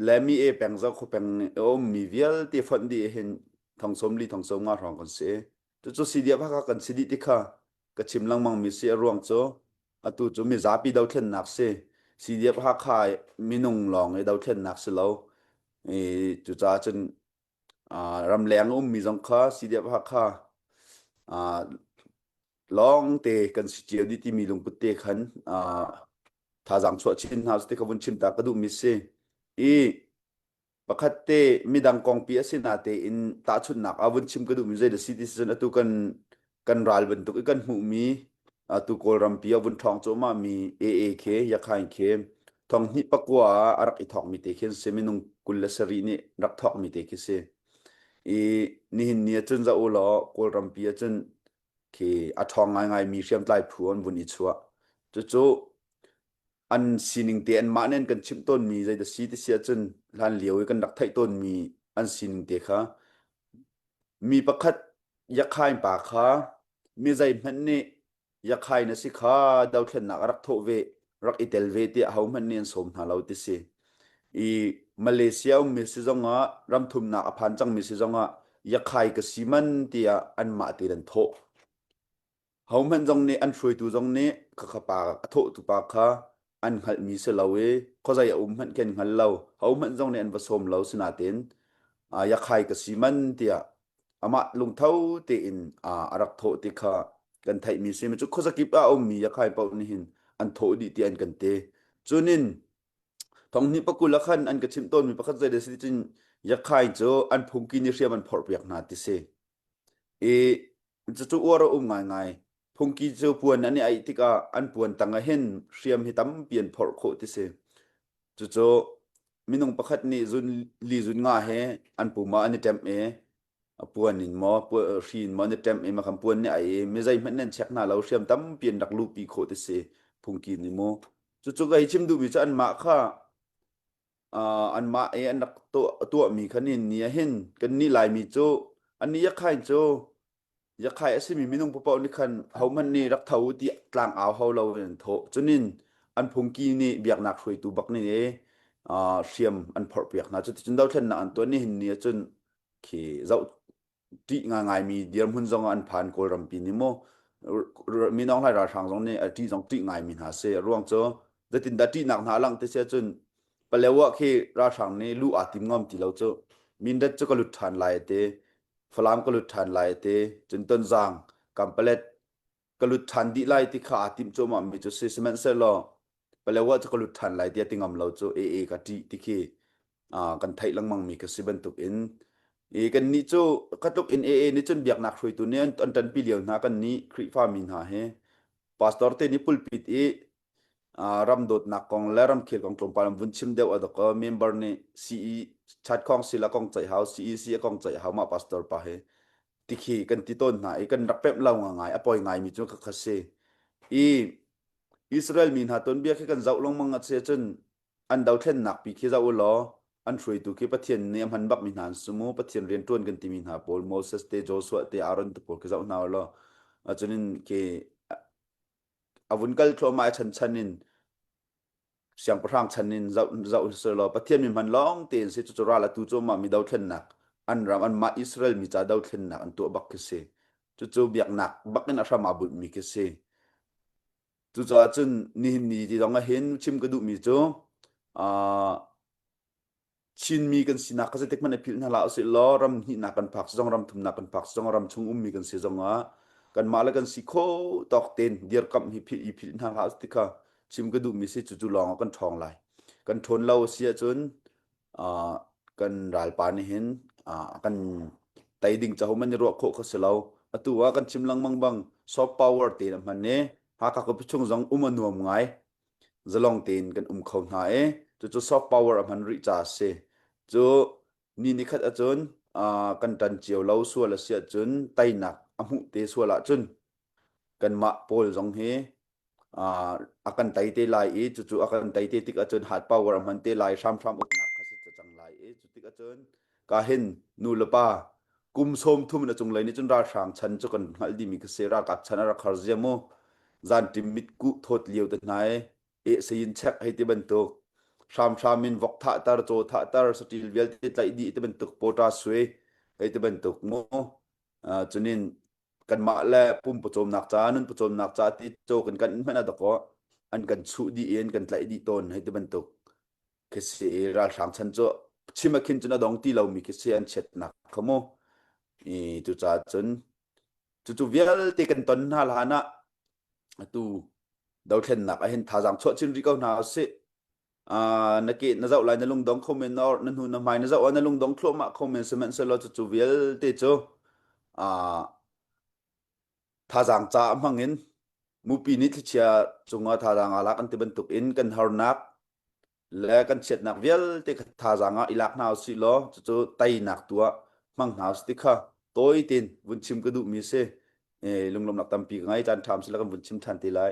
le mi e peng zo kho peng um mi vialte fonh di hin thong som li thong som nga hrong kan si tu chu si dia phaka kan si di ti kha ka chim langmang mi si a ruang chu atu chu mi zapi do thlen nak si si dia pha kha minung long e do thlen nak si lo e tu cha chun ram leng um mi zong kha si dia pha kha lawngte kan si cio dih timi lungput te khan uh, thazaang chuah chin hna te ka vun chim ta ka duh mi si i pakhat te midang kongpi a si na tein tahchunnak a vun chim ka duh mi zei da si ti cun atu kan kan ral bantuk i kan hmuh mi atu kawlram pi a vun thong cu ma mi AA khe yakhain khe thong hni pakwa a rak i thong mi te khin se minung kul le sari ni rak thong mi te khi si i nihin ni cun za u law kawlram pi cun khi a ṭhawng ngaingai mi hriamtlai phu an vun i chuah cucu an sining te an mah nen kan chimh tawn mi zei da si ti si ahcun hlan lio i kan rak theih tawn mi an sining te kha mi pakhat yakhain pa kha mi zei hmanh nih yakhai na si kha dothlennak a rak thawh ve rak i tel ve tiah hohmanh nih an sawm hna lo ti si i Malaysia ummi si zongah ramthumnak a phan cangmi si zongah yakhai ka si man tiah an mah te an thawh hohmanh zong nih an hruaitu zong nih ka khapa a thawhtu pa kha an hngalhmi si lo i khuazai a um hmanh ken hngal lo hohmanh zong nih an va sawm lo sinatin yakhai ka si man tiah amah lungtho tein a rak thawh ti kha kan theihmi si cu khuazakip ah a ummi Yakhai paoh nih hin an thawh dih ti an kan te cunin thonghni pakul ah khan an ka chimh tawnmi pakhat zei da si cun Yakhai cu an phungki nih hriam an phorh piak hna ti si i cucu uar a um ngaingai Phungki cu puan an i aih tikah an puan tang ah hin hriam hi tampi an phorh khawh ti si. Cucu minung pakhat nih zun li zun nga he an puma an i ṭemh i a puan in maw pu- hri in maw an i ṭemh i makham puan nih aih i mi zeihmanh nan check hna lo hriam tampi an rak luhpi khawh ti si phungki nih mu. Cucu ka hei chim duhmi cu anmah kha uh, anmah i an rak tuah, tuahmi kha ni ni ah hin kannih Laimi cu an i yakhain cu Yakhai a simi minung paoh nih khan hohmanh nih rak tho ti tlang au hau lo in an thawh. Cunin an phungki nih biaknak hruaitu bak nih e, uh, hriam an phorh piak hna. Cuticun dothlennak an tuan i hinni acun khi zoh ṭih ngaingaimi dirhmun zong ah an phan Kawl rampi nih maw mi Nong Hlai ralhrang zong nih a ṭih zong ṭih ngaimi hna si. A ruang cu zetindah ṭihnak hna a langh ti si acun paleo ah khi ralhrang nih lu aa tim ngam ti lo cu. Mindat cu ka lut ṭhan lai a ti. falam ka lut ṭhan lai ti cun ton zang kan palet ka lut ṭhan dih lai ti kha aa tim cu ma mi cu si sihmanhsehlaw palewa cu ka lut ṭhan lai tiah ti ngam lo cu e e ka ṭih ti khi kan theih lengmang mi ka si bantuk in i kan nih cu khatluk in ee nih cun biaknak hruaitu nih an ṭanpi lio hna kan nih Khrihfa mi hna hi pastor te nih pulpit i ram dawtnak kong le ramkhel kong tlawmpal vun chim deuh a dok member nih CE chat khong si la kong ceih hau CE si kong ceih hau ma pastor pa he tikhi kan ti ton hna i kan rak pem lo nga ngai a poi ngai mi cu ka khasi i Israel mi hna ton bia khi kan zau long mang ase cun an do thlen nak pi khi zau lo an thruai tu khi pathian ne man bak mi hna sumu pathian rian tuan kan ti mi hna paul moses te joshua te aaron te paul khi zau hna lo achunin ke a vun kal thluahmah i chan chan in siangpahrang chan in zoh zoh sir law pathian mi hman lawng tein si cu ral atu cu ma mi dothlennak an ram an mah Israel mi ca dothlennak an tuah bak khi si cucu biaknak bak in a hram a bunh mi khi si cucaah cun nihin ni ti zong ah hin chim ka duh mi cu uh, Chinmi kan sinak kha zeitik hmanh i philh hna hlah usih law ram hnihnak kan phak zong ram thumnak kan phak zong ram chung ummi kan si zongah kanmah le kan si khaw tawk tein dirkamh hi philh i philh hna hlah usih ti kha chim ka duhmi si cucu lawngah kan ṭhawng lai. Kan ṭhawn lo a si ahcun uh, kan ralpa nih hin uh, kan tei ding caho man i ruah khawh kha si lo. Atu ah kan chim lengmang bang soft power te na hman i Hakha ka chung zong um a nuam ngai. zalong tein kan um kho hna i cucu soft power a hman rih ca a si cu ni ni khat ahcun kan tan cio lo sual a si ahcun teinak a hmuh te sual ahcun kanmah pawl zong hi a kan tei te lai i cucu a kan tei te tik ahcun hard power a hman te lai hramhram uknak kha si cang lai i cu tik ahcun ka hin nulepa kum som thum na cunglei nih cun ralhrang chan cu kan hngalh dimi ka se ralkap chan a rak har zia mu zan tim mit ku thawt lio te hna e e sayin check hei ti bantuk hram hram in vok tha tar chaw tha tar satil vialte tlaih di ti bantuk pota sui hei ti bantuk mu chunin kan mah le pum pawcawm nak ca nun pawcawm nak ca ti chaw kan kan in hmana dako an kan chu di in kan tlaih di ton hei ti bantuk khi si i ralhrang chan cu chim a khin cun a dong ti lomi khi si an chiatnak kha mu i tu ca cun cucu vialte kan ton hna hlan ah atu dothlennak a hen thazang chuah chin ri ko hna si na ke na zoh lai na lungdong kho men or na hnu na hmai na zoh na lungdong thluahmah kho men sihmanhsehlaw cucu vialte cu thazaang ca a hmang in mupi nih thlichia cungah thazaang a lak an ti bantuk in kan harnak le kan chiatnak vialte kha thazaang ah i lak hna usih law cucu teinak tu ah hmang hna usih ti kha tawi tein vun chim ka duhmi si e, lunglawmnak tampi ka ngei caan ṭham si la kan vun chim ṭhan ti lai